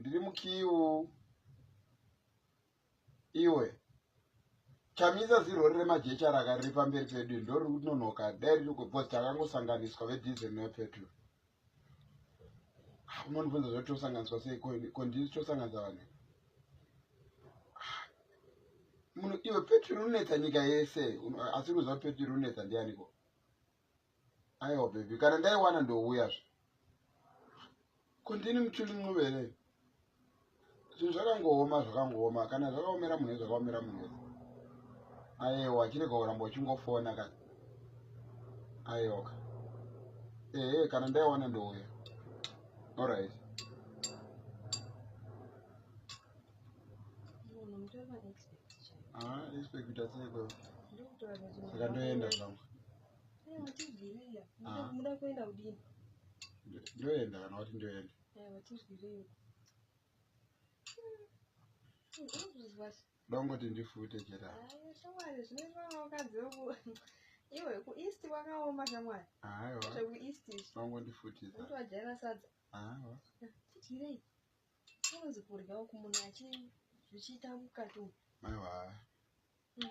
ndiri mukiu iwe chamisa zirori remajecha raka riri pamberi pedu ndoriri kunonoka dai riri kubhozi takangosanganiswa vedhizel nevepetrol ah, unondibvunza zvoti tosanganiswa sei kondiri tosanganisa vane ah, munhu iwe petrol unonetsa nyika yese asi unoziva petrol unonetsa ndianiko aiwa bhebhi kana ndaiwana ndouyazve ko ndini muchuli mncuve here zvinhu zvakangooma zvakangooma kana zvakaomera munhu zvakaomera munhu wese aiwa chirega kuramba uchingofona ka aiwaka ehe kana ndaiwana ndouya orit Ah, expect asi yeko. Saka ndoenda zvangu. Ah. Muda kuenda kudini? Ndoenda kana wati ndoenda. Eh, watizwirei. Dongoti ndifute chera. Ah, shamwari zvinoitwa vakadzi voku. Iwe ku east wakaoma shamwari. Aiwa. Zveku east. Dongoti futisa. Unotovajaira sadza. Aiwa. Titirei. Kunzi kurya uku munhu achi zvichiita mukati umu. Maiwa. Mm.